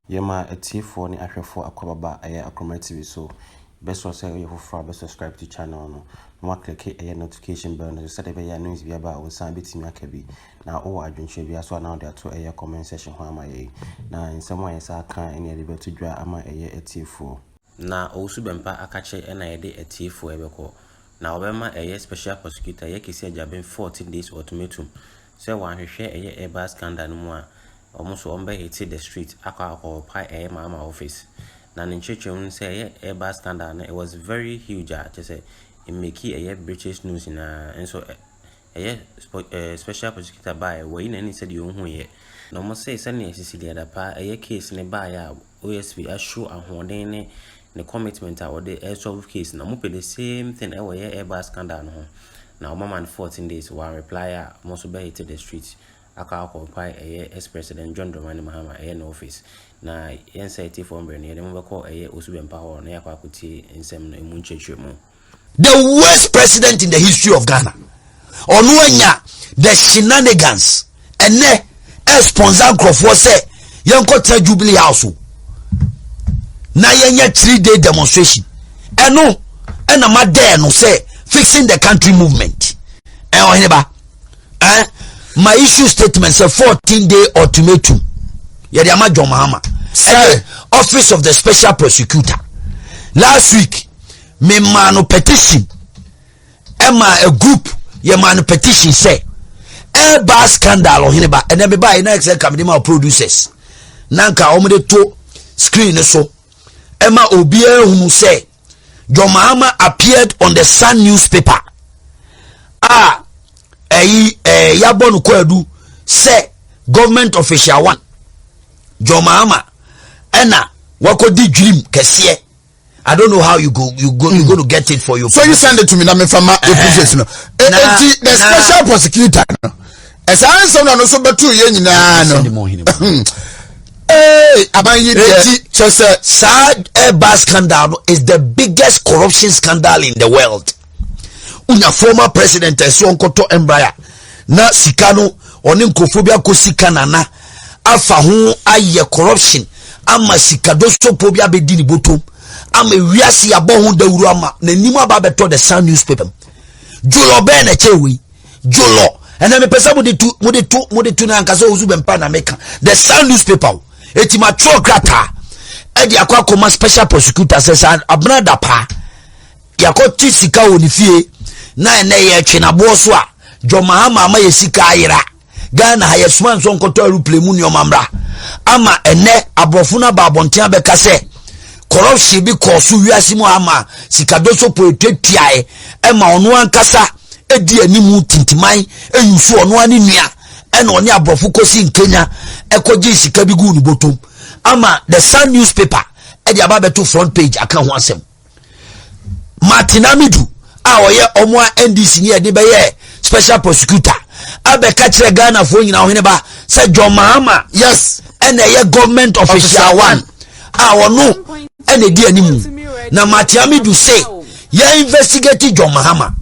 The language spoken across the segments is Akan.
Yɛma atiefoɔ ne ahwɛfoɔ akwaaba a ɛyɛ Akroma TV so bɛsɔ sɛ woyɛ foforɔ a bɛ subscribe to channel no na woakleke ɛyɛ notification bell no so sɛdeɛ ɛbɛyɛ a news bi aba a wo nsa bɛtumi aka bi na wowɔ adwenkyerɛ bi aso a na wode ato ɛyɛ comment section hɔ ama yɛn na nsɛm a yɛsa aka ne yɛde bɛto dwa ama ɛyɛ atiefoɔ Na ɔwusu bɛmpa akakye ɛna yɛde atiefoɔ ɛbɛkɔ. Na wɔbɛma ɛyɛ special prosecutor ɛyɛ Kesi Agyabin fourteen days ultimatum sɛ wanhwehwɛ ɛyɛ airbag scandal no mu a wɔn nso wɔn bɛ hite the street akɔ akɔɔpae ɛyɛ Mahama office. Na ne nkyerɛkyerɛmu no sɛ ɛyɛ airbag scandal no it was very huge a kyerɛ sɛ ɛmeki ɛyɛ British news nyinaa nso ɛyɛ special prosecutor baeɛ wayi n'ani sɛdeɛ ɔnhuiɛ. Na wɔn se sɛdeɛ Sisi Deadapa ɛyɛ case no baeɛ a OSP a show ahoɔden ne ne commitment a wɔde resolve case na wɔn pɛ the same thing ɛwɔ yɛ airbus scandal no ho na wɔn ama no fourteen days wɔn reply a wɔn nso bɛ hit the street akɔ akɔ mpae ɛyɛ ex president john dramani mahama ɛyɛ ne office na yɛn sɛ ɛtifoɔ mbrɛ no yɛde mo bɛkɔ ɛyɛ osu bɛmpa hɔ na yɛakɔ akɔtie nsɛm no emu nkyerɛkyerɛ mu. the worst president in the history of ghana ɔno anya the shenanigans ɛnɛ ɛsponsor nkurɔfoɔ sɛ yɛnkɔtena jubilee house o na yɛnyɛ three day demonstration ɛno ɛna ma dɛɛ no sɛ fixing the country movement ɛ ɔhene ba ɛ ma issue statement sɛ fourteen day ultimatum yɛde ama john mahama ɛyɛ office of the special prosecutor last week memaa no petition ɛma a group yɛmaa no petition sɛ ɛbaa scandal ɔhene ba ɛnɛ mebaeɛ na ɛsɛ nka mede ma producers na nka wɔde to screen no so ɛma obiara hunu sɛ John Mahama appeared on the Sun newspaper a ɛyi ɛɛ yabɔ no kwaadu sɛ government official one John Mahama ɛna wakɔdi dwirim kɛseɛ I don't know how you go you go you go to get it for your. So you send it to me na me fa ma eh, episodes no. Eh, na eti the special prosecutor no. Ɛsɛ an sɛm na no so bɛtu yɛ nyinaa no. Ee aban yi deɛ. Eti kyɛ sɛ. Saa ɛɛba scandal no is the biggest corruption scandal in the world. wonya former president ɛsɛ ɔnkɔtɔ mbraya na sika no ɔne nkurɔfoɔ bi akɔ sika nana afa ho ayɛ corruption ama sika dosopoɔ bi abɛdi ne botom ama wiase abɔ ho dawuro ama n'anim aba abɛtɔ the sun newspaper jolɔ bɛɛ na ɛkyɛ wei jolɔ ɛnna mepɛ sɛ mode tu mode tu mode tu no ankasa ɔwusu bɛmpa na meka the sun newspaper o ɛti matwerɛ krataa ɛde akɔ akɔma special prosecutor sɛ sɛ abena da paa yɛakɔte sika wɔ ne fie na ɛnɛ yɛtwe naboɔ so a John Mahama ama yɛ sika ayera Ghana ha yɛsoma nso nkɔtɔ aeroplane mu nneɛma mmra ama ɛnɛ aborɔfo no aba abɔnten abɛka sɛ corruption bi kɔɔ so wiase mu ama sikadɔ so po ɛtuatuae ɛma ɔno ankasa ɛdi anim tintiman ɛyi so ɔno ane nua ɛna ɔne aborɔfo kɔsi nkenya ɛkɔgye sika bi gu ne bɔtom ama the sun newspaper ɛde aba bɛto front page aka ho asɛm martin amidu a ɔyɛ ɔmo a ndc ni ɛde bɛyɛ special prosecutor abɛka kyerɛ ghanafoɔ nyinaa ɔhene ba sɛ john mahama yes ɛna ɛyɛ government official one a ɔno ɛna ɛdi anim na martin amidu se yɛ investigate john mahama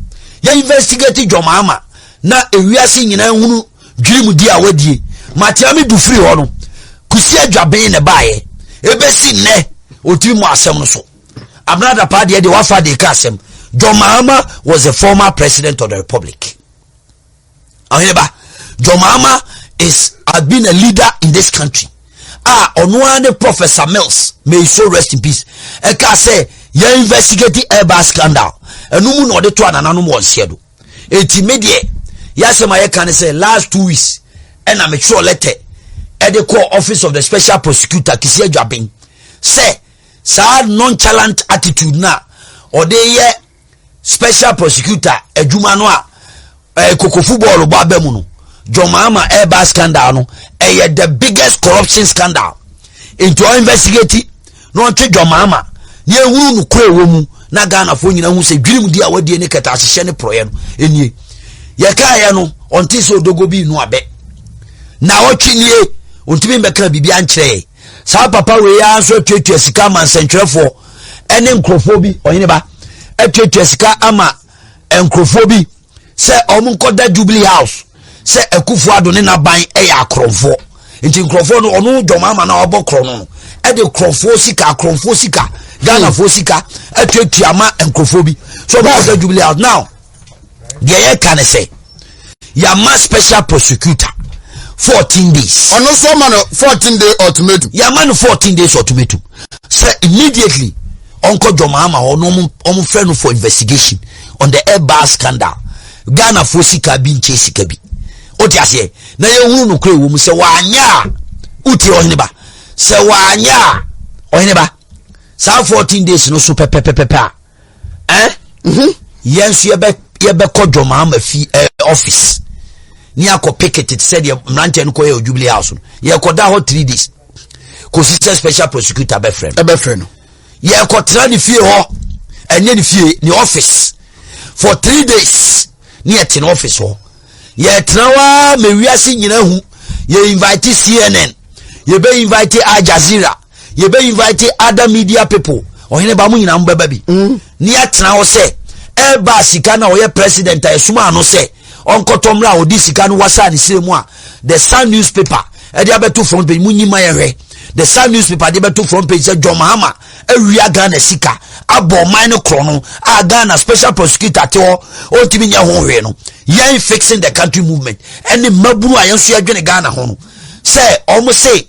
yɛ investigate john mahama na ewiase nyinaa hunu dwirim di a wadie matea me du firi hɔ no kusi adwaben na ɛbaeɛ ɛbɛsi nnɛ ɔtiri mu asɛm no so abena adapa deɛ deɛ wafa de ka asɛm john mahama was the former president of the republic ɔheneba john mahama is has been a leader in this country a ɔno ara ne professor mills may his soul rest in peace ɛka sɛ yɛ investigate airbag scandal ɛno mu na ɔde to anananom wɔ nseɛ do eti me deɛ yasɛm a yɛka ne sɛ last two weeks ɛna metwerɛ lɛtɛ ɛde kɔɔ office of the special prosecutor kisi adwaben sɛ saa nonchalant attitude na ɔde yɛ special prosecutor adwuma no a ɛɛ kokofu bɔɔlo bɔ aba mu no john mahama ɛɛba scandal no ɛyɛ the biggest corruption scandal nti ɔ investigate na ɔnte dwamaama na ehunu nokora ɛwɔ mu na ghanafoɔ nyina hu sɛ dwirim di a wadie ne kɛtɛ ahyehyɛ ne porɔeɛ no ɛnie yɛkaeɛ no ɔnte sɛ odogo bi nu abɛ na ɔtwe nie ɔntumi mbɛka biribi ankyerɛ saa papa wei ara nso atuatua sika ama nsɛntwerɛfoɔ ɛne nkurɔfoɔ bi ɔhene ba atuatua sika ama nkurɔfoɔ bi sɛ wɔn nkɔda jubilee house sɛ akufo ado ne n'aban yɛ akorɔmfoɔ nti nkorɔfoɔ no ɔno dwɔm ama na ɔbɔ korɔ no ɛde korɔfoɔ sika akorɔmfoɔ sika ghanafoɔ sika atuatua ama nkorɔfoɔ bi so ɔmo kɔda jubilee house now deɛ yɛ ka ne sɛ yɛama special prosecutor fourteen days. ɔno nso ɔma no fourteen day ultimatum. yɛama no fourteen days ultimatum sɛ immediately ɔnkɔ dwɔm ama hɔ na ɔmo fɛ no for investigation. on the air bar scandal ghanafoɔ sika bi nkyɛ sika bi wote aseɛ na yɛhunu nokorɛ wɔ mu sɛ wɔanyɛ a wotie ɔhene ba sɛ wɔanyɛ a ɔhene ba saa 14 days no so pɛpɛpɛpɛpɛ a eh? mhm. yɛn nso yɛbɛkɔ dwɔmaa ma fi eh, office ne akɔ picket te sɛ deɛ mmeranteɛ no kɔyɛ ɔjubilee house no yɛkɔda hɔ three days kɔsi sɛ special prosecutor bɛfrɛ no ɛbɛfrɛ no yɛkɔtra ne fie hɔ ɛnyɛ ne fie ne office for three days ne yɛte ne office hɔ yɛtena hɔ a ma wiase nyina hu yɛ invite cnn yɛbɛ invite al jazeera yɛbɛ invite other media people ɔhene ba mo nyinaa mo bɛba bi mm. ne yɛtena hɔ sɛ ɛba sika na ɔyɛ president a ɛsoma ano sɛ ɔnkɔtɔ mmerɛ a ɔde sika no wasaa ne srɛ mu a the sun newspaper ɛde abɛto front page mu nyima yɛhwɛ the sun newspaper de bɛto front page sɛ john mahama awia ghana sika abɔ ɔman no korɔ no a ghana special prosecutor te hɔ ɔntumi nyɛ ho hwee no yɛn fixing the country movement ɛne mmabunu a yɛn nso yɛdwene ghana ho no sɛ ɔmo se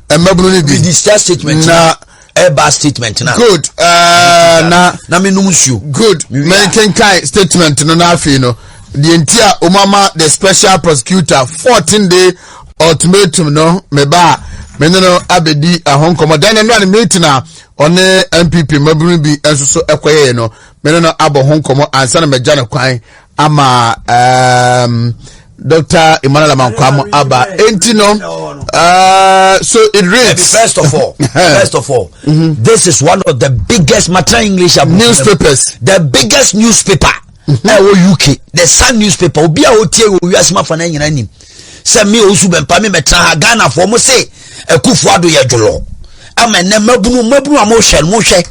mmabunu no bi. mede sika statement na ɛba statement na. good ɛɛ na. na mi num nsuo. good mɛnkenkan statement no n'afei no deɛ nti a wɔn ama the special prosecutor fourteen day ultimatum no meba a me ne no abɛdi ɛho nkɔmmɔ dan no ne meeting a ɔne npp mmabunu bi nso so ɛkɔyɛɛ no me ne no abɔ ho nkɔmmɔ ansa na magya no kwan ama um, Dr. Emmanuel Amankwam aba enti no uh, so it reads first of all first of all mm -hmm. this is one of the biggest Matra English newspapers the biggest newspaper mm-hmm. ɛwɔ mm -hmm. UK the Sun newspaper obi a otie wɔ wiase ma fa na nyina nim sɛ me osu bɛmpa me mɛtena ha Ghana fo mo se akufo ado yɛ dwolɔ ama ɛnɛ mabunu mabunu a mohwɛ no mohwɛ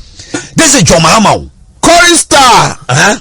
this is John Mahama o Corey Star uh -huh.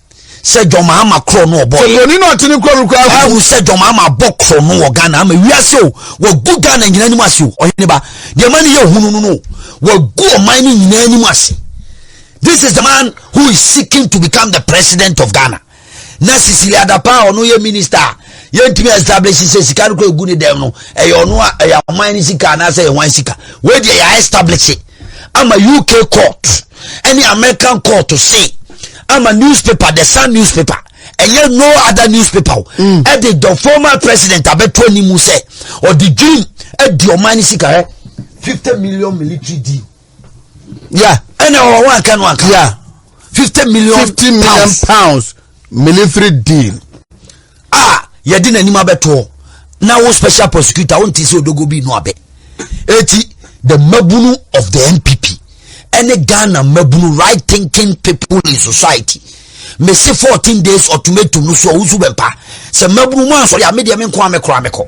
sɛ dwom ama korɔ no ɔbɔ yɛ broni na ɔte ne kuro no kura agu ɛhu sɛ dwom ama bɔ korɔ no wɔ Ghana ama wiase o wagu Ghana nyina anim ase o ɔhene ba deɛ ma ne yɛ hunu no no wagu ɔman no nyina anim ase this is the man who is seeking to become the president of Ghana na Sisili Adapa ɔno yɛ minister a yɛntumi establish sɛ sika no kura gu ne dɛm no ɛyɛ ɔno a ɛyɛ ɔman no sika anaasɛ ɛyɛ hwan sika wei deɛ yɛ establish it ama uk court ɛne american court se ama newspaper the sun newspaper ɛnyɛ no other newspaper o mm. ɛde the former president abɛto anim sɛ ɔde dream adi ɔman no sika hɛ fifty million military deal ya ɛna ɔwɔ anka no anka ya fifty million pounds. military deal a yɛde n'anim abɛtoɔ na wo special prosecutor wo nte sɛ odogo bi no abɛ eti the mabunu of the npp ɛne ghana mabunu right thinking people in society mese 14 days ultimatum no so a wosu bɛmpa sɛ mabunu mu ansɔre a medeɛ me nko a mekora mekɔ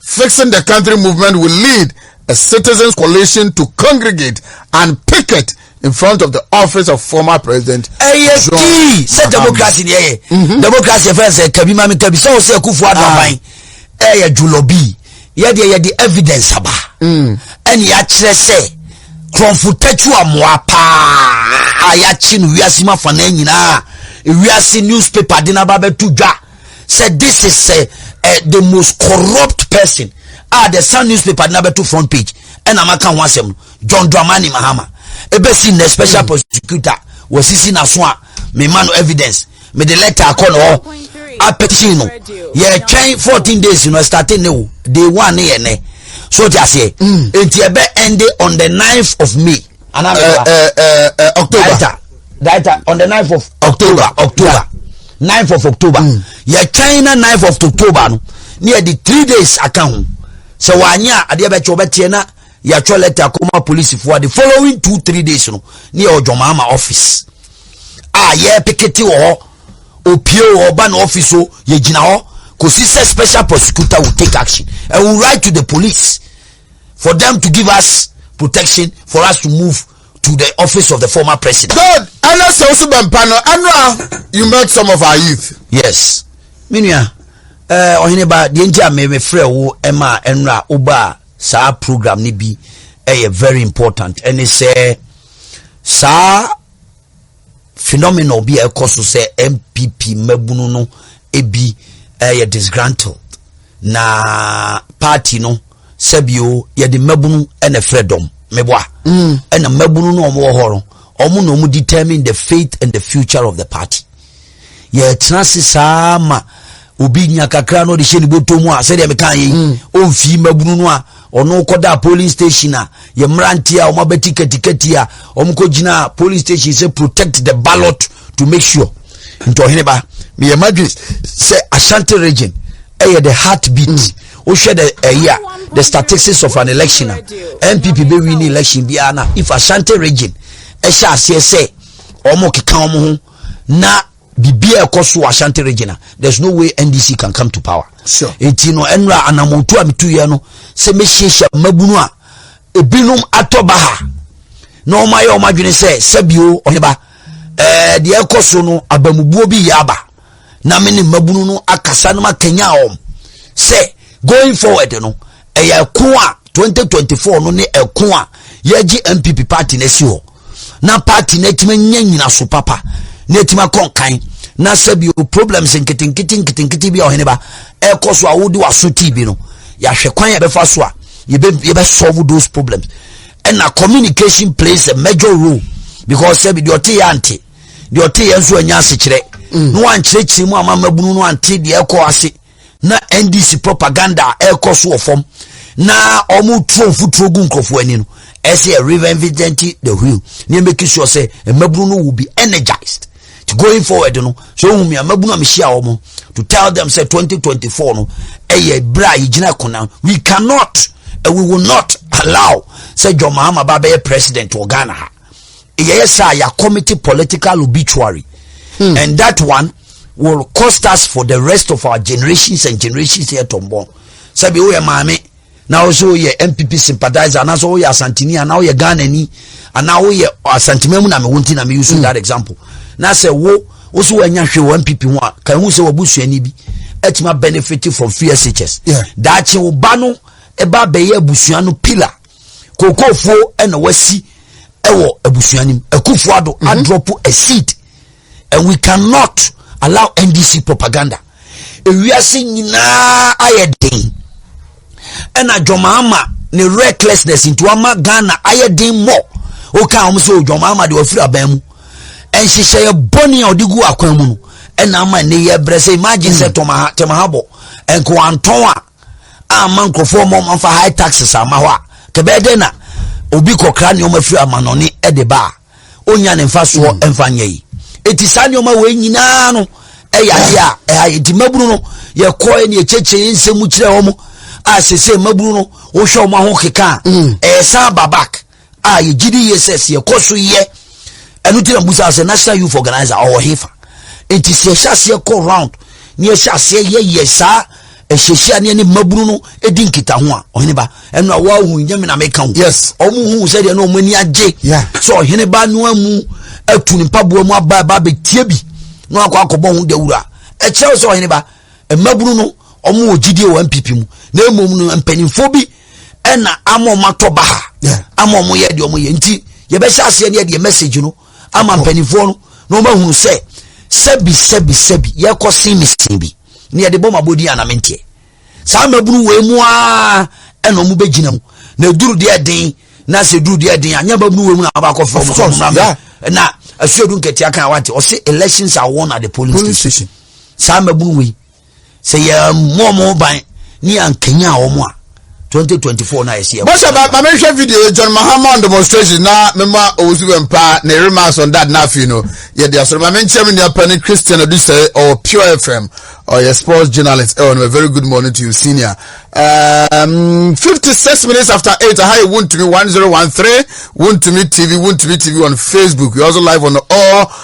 Fixing the Country movement will lead a citizens coalition to congregate and picket in front of the office of former president. ɛyɛ kii sɛ democracy deɛ yɛ mhm. democracy fɛn sɛ kabi maame kabi sɛ ɔsɛ kufu adaban ah. ɛyɛ julɔbi yɛdeɛ yɛde evidence aba mm. ɛne yɛakyerɛ sɛ kurɔnfo tatu amoa paa a yɛakye no wiase ma fa no nyinaa wiase newspaper de no aba bɛto dwa sɛ this is sɛ uh, eh, the most corrupt person a the sun newspaper na bɛto front page ɛna maka ho asɛm no john dramani mahama ɛbɛsi nnɛ special mm. prosecutor wɔsisi naso a mema no evidence mede letter akɔ no hɔ apɛkyi no yɛtwɛn 14 days no ɛstate ne wo day one ne yɛ nɛ so te aseɛ mm. nti ɛbɛ ɛnde on the 9th of may anaa mi ba. ɛɛ ɛɛ october daita daita on the ninth of. october october ninth of october mm. yɛ twɛn na ninth of october no ne yɛ di three days aka ho sɛ wanyɛ a adeɛ bɛkyɛ ɔbɛteɛ na yɛatwɛ lɛtɛ akɔma polisifoɔ ade following two three days no ne yɛ ɔdwɔmaama office a yɛ pikiti wɔ hɔ opie wɔ hɔ ba na office o yɛgyina hɔ kò si sɛ special prosecutor will take action and will write to the police. for them to give us protection for us to move to the office of the former president. good ɛnna sɛ o so bɛ mpa no ɛnna you met some of our youth. yes mi nua ɛɛ ɔhene ba deɛ nti a mi mi frɛ wo ɛma ɛnra o ba saa program ni bi ɛyɛ very important ɛne sɛ saa. phenomenal bi a ɛkɔ so sɛ npp mmabunu no ebi yɛ disgruntled na party no sɛbio yɛde mmabunu na ɛfrɛ dɔm meboa mm. ɛna mmabunu no wɔn wɔ hɔ no wɔn na wɔn determine the faith and the future of the party. yɛtena ase saa ma obi nya kakra na ɔde hyɛ ne bɔtɔ mu a sɛdeɛ meka yɛ mm. ɔmfii mmabunu no a ɔno kɔda polling station a yɛ mmeranteɛ a ɔmabɛti katikati a ɔmkɔgyina polling station sɛ protect the ballot to make sure nti ɔhene ba meyɛ madwene sɛ ashanti region ɛyɛ the heart beat mm. wohwɛ the ɛyi a the statistics of an election a npp bɛwi ne election biara na if ashanti region ɛhyɛ aseɛ sɛ ɔmo keka ɔmo ho na biribi a ɛkɔ so wɔ ashanti region a there is no way ndc can come to power sure. nti no ɛnura anamotu a metu yɛ no sɛ mehyiahyia mmabunu a ebinom atɔ ba ha na wɔn ayɛ wɔn adwene sɛ sɛbio ɔheba ɛɛ deɛ ɛkɔ so no abamubuo bi yɛ aba na me ne mmabunu no akasa no ma kenya wɔn sɛ going forward no. ɛyɛ ɛko a 2024 no ne ɛko a yɛgye npp party no asi hɔ na party no atumi anya nyinaso papa na atumi akɔ nkan na sɛ bio problems nketenkete nketenkete bi a ɔhene ba ɛkɔ so a wode waso tii bi no yɛahwɛ kwan a ɛbɛfa so a yɛbɛsolve those problems ɛna communication plays a major role because sɛ bi deɛ ɔte yɛ ante deɛ ɔte yɛ nso anya asekyerɛ mm. na wankyerɛkyerɛ mu ama mmabunu no ante deɛ ɛkɔ ase na ndc propaganda a ɛrekɔ so wɔ fam na wɔn turo mfuturo gu nkurɔfoɔ ani no ɛsɛ yɛ reinventing the wheel ne yɛ make sure sɛ mmabunu no will be energized to going forward no so ohun mi mmabunu a mehyia wɔn to tell them sɛ 2024 no ɛyɛ bere a yɛgyina kona we cannot and we will not allow sɛ john mahama ba bɛyɛ president wɔ ghana ha yɛyɛ saa yɛ committee political obituary hmm. and that one will cost us for the rest of our generations and generations yɛ tɔnbɔn sɛbi o yɛ maame na ɔsɛ o yɛ npp sympathizer anaasɛ o yɛ asantini anaa o yɛ ghanani anaa o yɛ asantimamu na mi wo nti na mi use hmm. that example na sɛ wo wosi wa nya hwɛ wɔ npp ho a kan ho sɛ wɔ busuani bi ɛtuma benefit from free shs daakye wo ba no ɛba abɛyɛ abusua no pillar kokofuo ɛna wasi ɛwɔ abusua nim akufuo ado mhm. adrɔpo a seed and we cannot allow ndc propaganda ewiase nyinaa ayɛ den ɛna dwɔmaama ne recklessness nti wama ghana ayɛ den mmɔ woka wɔn sɛ oh, dwɔmaama de wafiri aban mu nhyehyɛeɛ bɔne a ɔde gu akwan mu no ɛna ama ne yɛ brɛ sɛ imagine sɛ hmm. tɔmaha tɛmaha bɔ nkowantɔn a amma nkurɔfoɔ ma wɔmfa high taxes amma hɔ a kɛbɛyɛ dɛn na obi kɔkra nneɛma firi amanɔne de ba a ɔnya ne mfasoɔ mm. mfa nyɛ yi ɛti saa nneɛma wei nyinaa no ɛyɛ adeɛ a ɛha yɛ nti mmabunu no yɛkɔɛ ne yɛkyɛkyerɛ yɛ nsɛm mu kyerɛ wɔ mu a sɛsɛ mmabunu no wohwɛ wɔn aho keka a mm. ɛyɛ san ba back a yɛgye di yie sɛ sɛ yɛkɔ so yɛ ɛno nti na busa sɛ national youth organizer ɔwɔ hefa nti sɛ yɛhyɛ aseɛ kɔ round ne yɛhyɛ aseɛ yɛyɛ saa ɛhyehyia ne ɛne mmabunu no ɛdi nkita ho a ɔhene ba ɛno a woahu nyame na meka ho yes ɔmo hu sɛ deɛ na ɔmo ani agye sɛ ɔhene ba no amu atu ne mpaboa mu aba ɛba bɛtie bi na wakɔ akɔbɔ ho dawura ɛkyerɛ wo sɛ ɔhene ba mmabunu no wɔn wɔ gyidie wɔ npp mu na mmom no mpanyinfoɔ bi ɛna ama wɔn atɔ baha ama wɔn yɛ deɛ wɔn yɛ nti yɛbɛhyɛ aseɛ ne yɛdeɛ message no ama mpanyinfoɔ no na wɔn ahunu sɛ sɛbi sɛbi sɛbi yɛkɔ sin mi sin bi ne yɛde bɔ ma bɔ di anamenteɛ saa mmabunu wɔ emu aa ɛna wɔn bɛ gyina mu na eduru deɛ den na sɛ eduru deɛ den a nyɛ mmabunu wɔ emu na wɔn akɔ fɔm na asuadu nketewa kan wa te ɔsi elections are won at the polling station. saa mmabunu wei sɛ yɛmmɔ wɔn ho ban ne yɛankanyan wɔn a 2024 na yɛsi ɛwɔ. bɔsɛ ba ma mehwɛ video yɛ john mahama on demonstration na mema owusu bɛ mpa na eri maa sɔn dad n'afi no yɛ de asɔrɔ ma me nkyɛn mi nua pɛ ne christian odusɛ ɔwɔ pure fm ɔyɛ sports journalist ɛwɔ no very good morning to you senior um, 56 minutes after 8 aha yɛ wuntumi 1013 wuntumi tv wuntumi tv on facebook you also live on all